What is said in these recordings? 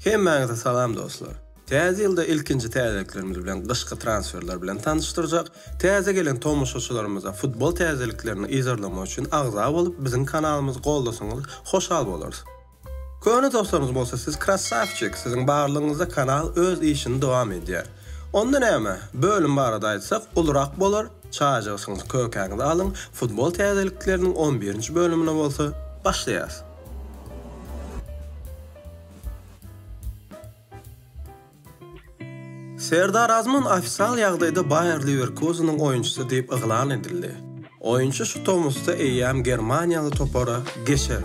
Hemmäňize salam dostlar. Täze ýylda ilkinji täzeliklerimiz bilen gyşky transferler bilen tanyşdyrjak. Täze gelen tomaşaçylarymyza futbol täzeliklerini yzarlamak üçin agza bolup biziň kanalymyzy goldasaňyz hoşal bolarys. Köne dostlarymyz bolsa siz krassawçik siziň barlygyňyzda kanal öz işini dowam edýär. Onda näme, bölüm barada aýtsak ulurak bolar, çaýjygysyňyzy kökäňizi alyň, futbol täzelikleriniň on birinji bölümine bolsa başlaýas. Serdar Azmun ofisial ýagdaýda Baýer Liwerkuzeniň oýunçysy diýip yglan edildi. Oýunçy şu tomusda eýýäm germaniýaly topara geçer.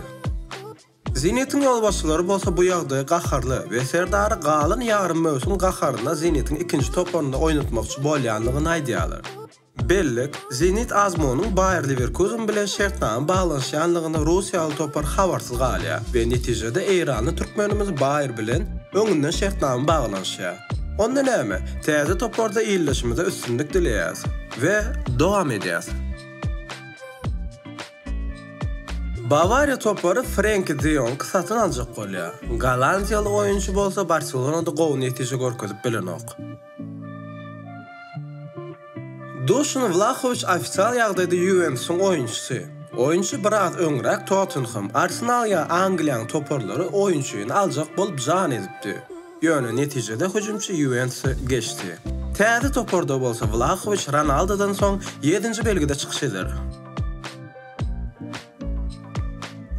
Zenitiň ýolbaşçylary bolsa bu ýagdaýa gaharly we Serdary galan ýarym möwsüm gaharynda Zenitiň ikinji toparynda oýnatmakçy bolýandygyny aýdýarlar. Bellik, Zenit Azmunyň Baýer Lewerkuzen bilen şertnama baglanyşýanlygyny russiýaly topar habarsyz galýar we netijede eýranly türkmenimiz Baýer bilen öňünden şertnama baglanyşýar. Onda näme, täze toparda ildeşimize üstünlik dileýäs we dowam edýäs. Bawariýa topary Frenki de Ýongy satyn aljak bolýar. Gollandiýaly oýunçy bolsa Barselonada gowy netije görkezip bilenok. Duşan Wlahowiç ofitsial ýagdaýda Ýuwentusyň oýunçysy. Oýunçy biraz öňräk Tottenhem, Arsenal ýa Angliýanyň toparlary oýunçyny aljak bolup jan edipdi. Ýöne netijede hüjümçi Ýuwentusa geçdi. Täze toparda bolsa Wlahowiç Ronaldodan soň ýedinji belgide çykyş eder.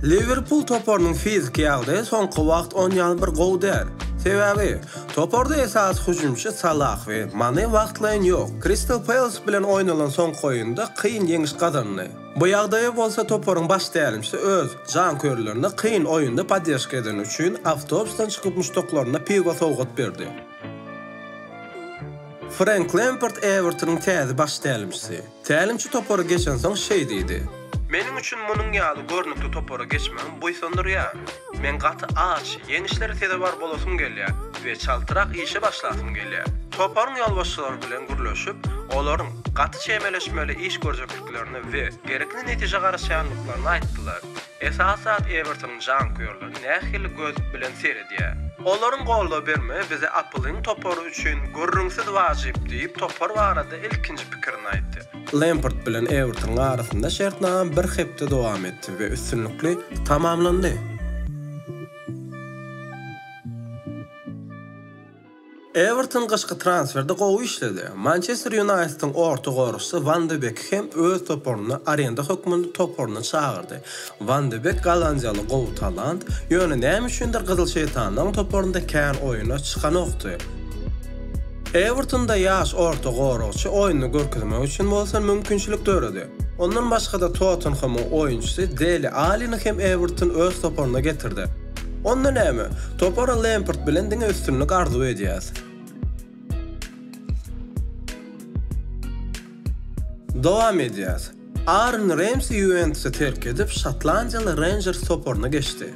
Liwerpul toparynyň fiziki ýagdaýy soňky wagt onýaly bir gowy däl. Sebäbi, toparda esasy hüjümçi Salah we Mane wagtlaýyn ýok. Kristal Peles bilen oýnalan soňky oýunda kyn ýeňiş gazandy. Bu ýagdaýa bolsa toparyň baş tälimçisi öz janköýerlerine kyn oýunda poddežka edeni üçin awtobusdan çykyp muşdaklaryna piwo sowgat berdi. Frenk Lempard Ewertonyň täze baş tälimçisi. Tälimçi topary geçensoň şeý diýdi. Meniň üçin munuň ýaly görnükli topara geçmegim buýsandyrýar. Men gaty aç, ýeňişlere sezewar bolasym gelýär we çaltrak işe başlasym gelýär. Toparyň ýolbaşçylary bilen gürleşip, olaryň gaty çemeleşmeli iş görjekliklerini we gerekli netijä garaşýandyklaryny aýtdylar. Esas zat Evertonyň janköýerleri nähili göz bilen seredýär. Olaryň goldaw bermegi bize Apple-yň topary üçin gürrüňsiz wajyp diýip, topar barada ilkinji pikirini aýtdy. Lempard bilen Evertonyň arasynda şertnama bir hepde dowam etdi we üstünlikli tamamlandy. Ewerton gyşky transferde gowy işledi. Mançester Ýunaýtediň orta goragçysy Wan de Beki hem öz toparyna arenda hökmünde toparyna çagyrdy. Wan de Bek gollandiýaly gowy talant, ýöne näme üçindir Gyzyl şeýtanlaryň toparynda kän oýuna çykanokdy. Ewertonda ýaş orta goragçy oýnuny görkezmek üçin bolsa mümkinçilik döredi. Ondan başga-da Tottenhemiň oýunçysy Deli Alini hem Ewerton öz toparyna getirdi. Onda näme? Topara Lempard bilen diňe üstünlik arzuw edýäs. Dowam edýäs. Aaron Remsi Ýuwentusy terk edip, şotlandiýaly Renjers toparyna geçdi.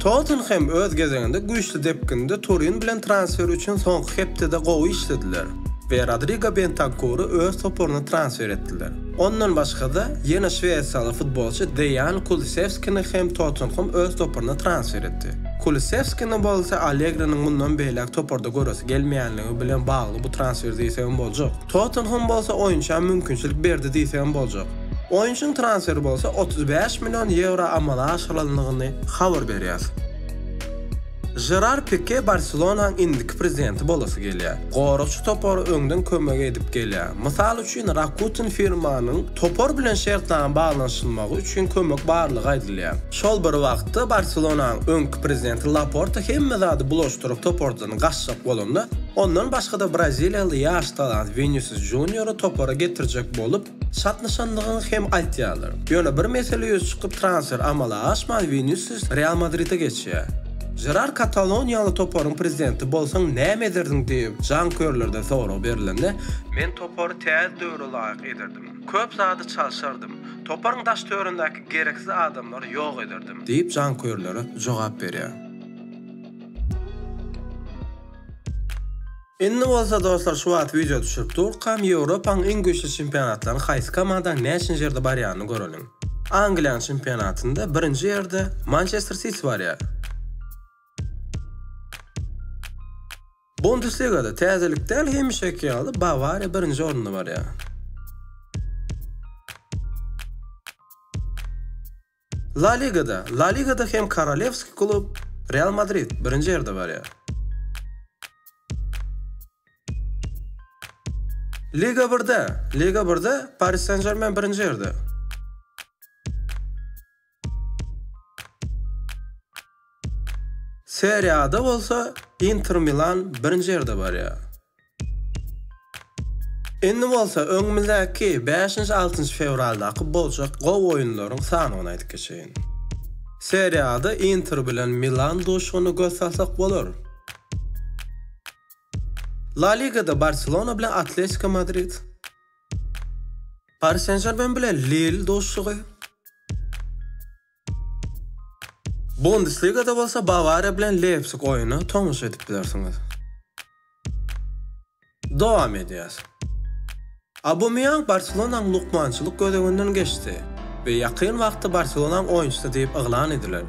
Tottenhem öz gezeginde güýçli depginde Turin bilen transfer üçin soňky hepdede gowy işlediler we Rodrigo Bentankuru öz toparyna transfer etdiler. Ondan başga-da, ýene şwesiýaly futbolçy Deýan Kulusewskini hem Tottenham öz toparyna transfer etdi. Kulusewskini bolsa Allegriniň mundan beýläk toparda göresi gelmeýänligi bilen bagly bu transfer diýsegem boljak. Tottenham bolsa oýunça mümkinçilik berdi diýsegem boljak. Oýunçynyň transferi bolsa otuz bäş million ýewro amala aşyrylandygyny habar berýär. Žerar Pike Barselonaň indiki prezidenti bolasy gelýär. Goragçy topara öňden kömek edip gelýär. Mysal üçin, Rakuten firmanyň topar bilen şertnama baglanyşylmagy üçin kömek barlygy aýdylýar. Şol bir wagtda, Barselonaň öňki prezidenti Laporta hemme zady bulaşdyryp topardan gaçjak bolanda, ondan başga-da braziliýaly ýaş talant Winisus Junior-y topara getirjek bolup, Çatlyşandygyny hem aýtýarlar. Ýöne bir mesele ýüze çykyp, transfer amala aşman, Winisius Real Madride geçýär. Jerar kataloniýaly toparyň prezidenti bolsaň näme ederdiň diýip, janköýerlerden sorag berilende, Men topary täze döwre laýyk ederdim. Köp zady çalşardym. Toparyň daş-töwerindäki gereksiz adamlary ýok ederdim diýip, janköýerlere jogap berýär. Indi bolsa dostlar şu wagt wideo düşürip durkam Ýewropaň iň güýçli çempionatlaryny haýsy komandaň näçinji ýerde barýanyny göreliň. Angliýanyň çempionatynda birinji ýerde Mançester Siti barýar. Bundesligada täzelik däl hemişeki ýaly Bawariýa birinji orunda barýar. La Ligada La Ligada hem korolewski klub Real Madrid birinji ýerde barýar. Liga birde Liga birde Paris Sen-Žermen birinji ýerde. Serie A-da bolsa Inter Milan birinji ýerde barýar. Indi bolsa öňümizdäki bäşinji, altynjy fewraldaky boljak gowy oýunlaryň sanawyny aýdyp geçeýin. Serie A-da Inter bilen Milan duşugyny göz salsak bolar. La Ligada Barselona bilen Atletiko Madrid, Pari Sen-Žermen bilen Lill duşugy. Bundesligada bolsa Bawariýa bilen Leýpsig oýny tomaşa edip bilersiňiz. Dowam edýäs. Aubameyang Barselonaň lukmançylyk gözeginden geçdi we ýakyn wagtda Barselonaň oýunçysy diýip yglan ediler.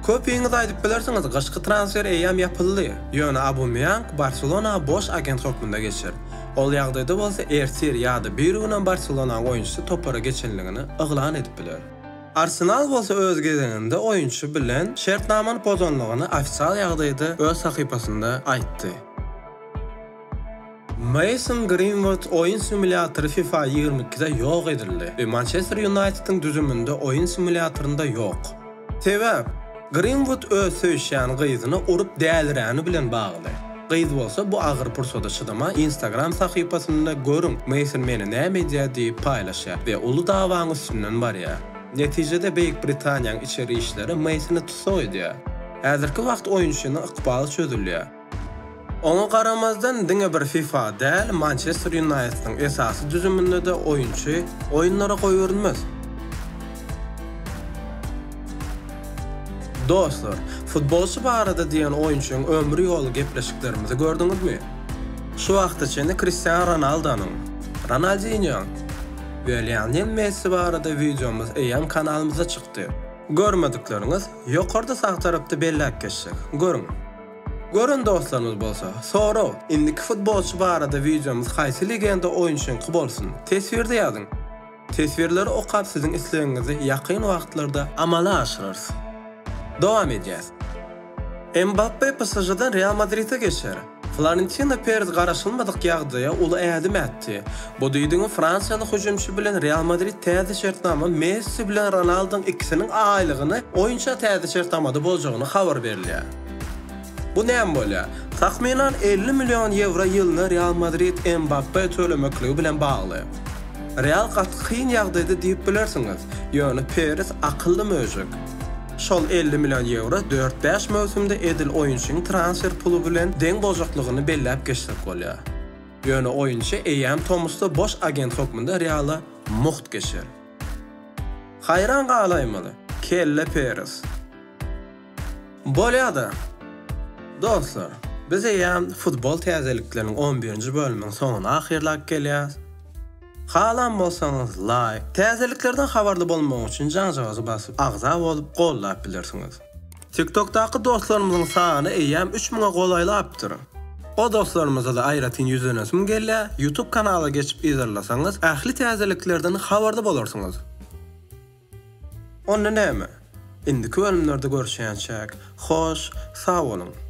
Köpiňiz aýdyp bilersiňiz, gyşky transfer eýýäm ýapyldy, ýöne Aubameyang Barselona boş agent hökmünde geçer. Ol ýagdaýda bolsa ertir ýa-da birigünem Barselonaň oýunçysy topara geçenligini yglan edip biler. Arsenal bolsa öz gezeginde oýunçy bilen şertnamany pozandygyny ofisial ýagdaýda öz sahypasynda aýtdy. Meýson Grinwud oýun simulýatory fifa ýigrimi ikide ýok edildi we Mançester Ýunaýtediň düzüminde oýun simulýatorynda ýok. Sebäp? Grinwud öz söýüşýän gyzyna urup däliräni bilen bagly. Gyz bolsa bu agyr pursada çydaman Instagram sahypasynda Görüň, Meýson meni näme edýär diýip paýlaşýar we uly dawaň üstünden barýar. Netijede Beýik Britaniýaň içeri işleri Meýsoni tussag edýär. Häzirki wagt oýunçynyň ykbaly çözülýär. Oňa garamazdan, diňe bir fifa däl, Mançester Ýunaýtdyň esasy düzüminde-de oýunçy oýunlara goýberilmez. Dostlar, futbolçy barada diýen oýunçyň ömri ýoly gepleşiklerimizi gördüňizmi? Şu wagta çenli Kristiano Ronaldonyň, Ronaldinýoň we Lionel Messi barada wideomyz eýýäm kanalymyzda çykdy. Görmedikleriňiz, ýokarda sag tarapda belläp geçdik, görüň! Gören dostlarymyz bolsa, sorag, indiki futbolçy barada wideomyz haýsy legenda oýunçyňky bolsun? Teswirde ýazyň! Teswirleri okap siziň islegiňizi ýakyn wagtlarda amala aşyrarys. Dowam edýäs. Mbappe PSŽ-dan Real Madride geçer. Florentino Perez garaşylmadyk ýagdaýa uly ädim ätdi. Bu diýdigiň fransiýaly hüjümçi bilen Real Madrid täze şertnama Messi bilen Ronaldoň ikisiniň aýlygyny oýunça täze şertnamada boljagyny habar berilýär. Bu näme bolýar? Takmynan elli million ýewro ýylyna Real Madrid Mbappe tölemekligi bilen bagly. Real gaty kyn ýagdaýda diýip bilersiňiz, ýöne Peres akylly möjek. Şol elli million ýewro dört-bäş möwsümde edil oýunçyň transfer puly bilen deň boljaklygyny belläp geçsek bolýar. Ýöne oýunçy eýýäm tomusda boş agent hökmünde Reala mugt geçer. Haýran galaýmaly, kelle Peres! Bolýada! Dostlar, biz eýýäm futbol täzelikleriniň on birinji bölüminiň soňuna ahyrlap gelýäs. Halan bolsaňyz, laýk, täzeliklerden habarly bolmak üçin jaňjagazy basyp, agza bolup, gollap bilersiňiz. TikTokdaky dostlarymyzyň sany eýýäm üç müňe golaýlapdyr. O dostlarymyza-da aýratyn ýüzlenesim gelýär, Youtube kanala geçip yzarlasaňyz, ähli täzeliklerden habarly bolarsyňyz. Onda näme? Indiki bölümlerde görüşýänçäk. Hoş, sag boluň!